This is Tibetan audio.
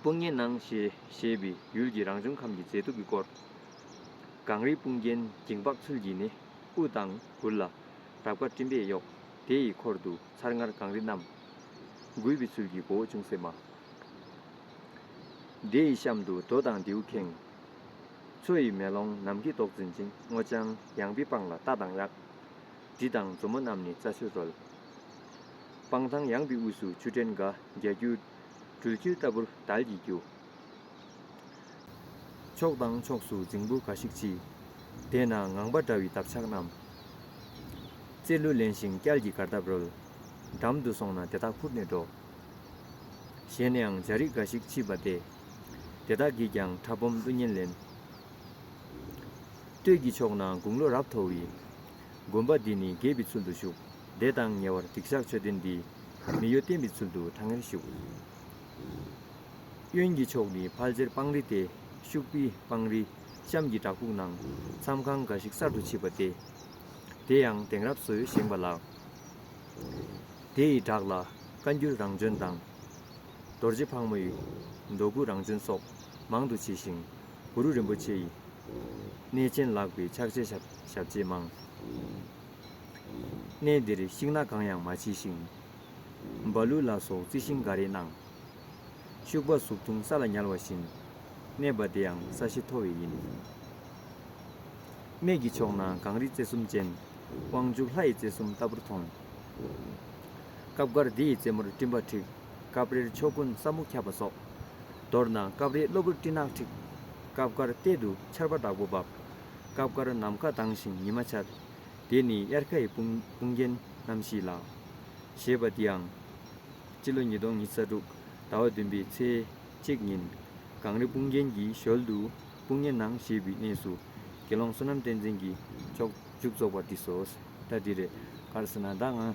དཔུང་གཉེན་སྣང། ཞེས་པའི་ཡུལ་གྱི་རང་བྱུང་ཁམས་ཀྱི་མཛེས་སྡུག་གི་སྐོར། གངས་རིའི་དཔུང་རྒྱན་འགྱིང་བག་ཚུལ་གྱིས་ནི་དབུ་དང་མགུལ་ལ། རབ་དཀར་སྤྲིན་པས་གཡོགས། དེ་ཡི་འཁོར་དུ་ཚར་ལྔར་གངས་རི་བསྣམས། མགུལ་བི་ཚུལ་གྱི་མགོ་བོ་ཅུང་ཟད་དམའ། དེ་ཡི་གཤམ་དུ་རྡོ་དང་མདེའུ་ཁེངས། མཚོ་ཡི་མེ་ལོང་ནམ་མཁའི་མདོག་འཛིན་ཅིང་སྔོ་ལྗང། ཡང་བི་སྤང་ལ་རྟ་དང་གཡག། འབྲི་དང་མཛོ་མོ་རྣམས་ནི་རྩྭ་ཆུར་རོལ། སྤང་ཐང་ཡང་བི་དབུས་སུ་ཆུ་ཕྲན་འགའ་རྒྱ་སྐྱུར། སྦྲུལ་ཁྱིར་ལྟ་བུར་དལ་གྱིས་རྒྱུ། ཕྱོགས་དང་ཕྱོགས་སུ་རྫིང་བུ་འགའ་ཞིག་མཆིས། དེ་ན་ངང་པ་འདྲ་བའི་འདབ་ཆགས་རྣམས། རྩེ་གླུ་ལེན་ཞིང་སྐྱལ་གྱི་གར་སྟབས་རོལ། འགྲམ་དུ་སོང་ན་དེ་དག་འཕུར་ནས་འགྲོ། ཞལ་ནེའང་འཇའ་རིས་འགའ་ཞིག་མཆིས་པ་སྟེ། དེ་དག་གིས་ཀྱང་ཕྲ་སྦོམ་གླུ་སྙན་ལེན། སྟོད་ཀྱི་ཕྱོགས་ན་དགུང་ལོ་རབ་མཐོ་བའི། དགོན་པ་འདི་ནི་རྒྱས་པའི་ཚུལ་དུ་བཞུགས། བདེ་དང་ཉེ་བར་འཇིགས་བཞག་མཆོད་རྟེན་འདི། མི་གཡོ་བརྟན་པའི་ཚུལ་དུ་གྲང་ངེར་བཞུགས། གཡོན་གྱི་ཕྱོགས་ནི་ཕལ་ཆེར་སྤང་རི་སྟེ། ཤུག་པི་སྤང་རི། གཤམ་གྱི་བྲག་ཕུག་ནང། མཚམས་ཁང་འགའ་ཞིག་གསར་དུ་ཕྱིས་པ་སྟེ། དེ་ཡང་དེང་རབས་སུ་བཞེངས་པ་ལགས། དེ་ཡི་བྲག་ལ་བཀའ་འགྱུར་རང་བྱོན་དང། རྡོ་རྗེ་ཕག་མོ་ཡི། མདོ་དགུ་རང་བྱོན་སོགས་མང་དུ་མཆིས་ཤིང། གུ་རུ་རིན་པོ་ཆེ་ཡི། གནས་ཆེན་ལགས་པའི་ཕྱག་བྱའི་ཞབས་རྗེས་མང། གནས་འདིར་ཤིང་སྣ་གང་ཡང་མ་མཆིས་ཤིང། རྦ་ཀླུ་ལ་སོགས་རྩི་ཤིང་འགའ་རེ་སྣང། ཤུག་པ་གཟུགས་ཐུང་ས་ལ་ཉལ་བ་བཞིན། གནས་པ་དེའང་ས་གཞི་མཐོ་བས་ཡིན། སྨད་ཀྱི་ཕྱོགས་ན་གངས་རིའི་རྩེ་གསུམ་ཅན། དབང་ཕྱུག་ལྷ་ཡི་རྩེ་གསུམ་ལྟ་བུར་མཐོང། སྐབས་འགར་འདི་ཡི་རྩེ་མོར་སྤྲིན་པ་འཁྲིགས། སྐབས་རེར་ཕྱོགས་ཀུན་ས་སྨུག་ཁྱབ་པ་སོགས། མདོར་ན་སྐབས་རེ་གློ་བུར་སྤྲིན་ནག་འཁྲིགས། སྐབས་འགར་གཏེར་དུ་ཆར་པ་དྲག་པོ་འབབ། སྐབས་འགར་ནམ་མཁའ་དྭངས་ཤིང་ཉི་མ་འཆར། འདི་ནི་དབྱར་ཁ་ཡི་དཔུང་རྒྱན་རྣམ་བཞི་ལགས། ཞེས་པ་འདིའང། སྤྱི་ལོ་ཉིས་སྟོང་ཉིས་བརྒྱ་དྲུག་ཟླ་བ་བདུན་པའི་ཚེས་གཅིག་ཉིན། གངས་རི་དཔུང་རྒྱན་གྱི་ཞོལ་དུ་དཔུང་གཉེན་ནང་ཞེས་པའི་གནས་སུ། དགེ་སློང་བསོད་ནམས་བསྟན་འཛིན་གྱིས་མཆོག་མཇུག་རྫོགས་པ་འདི་སོ། ད་འདི་རེད། ག་རེ་ཟེར་ན་ད་ང།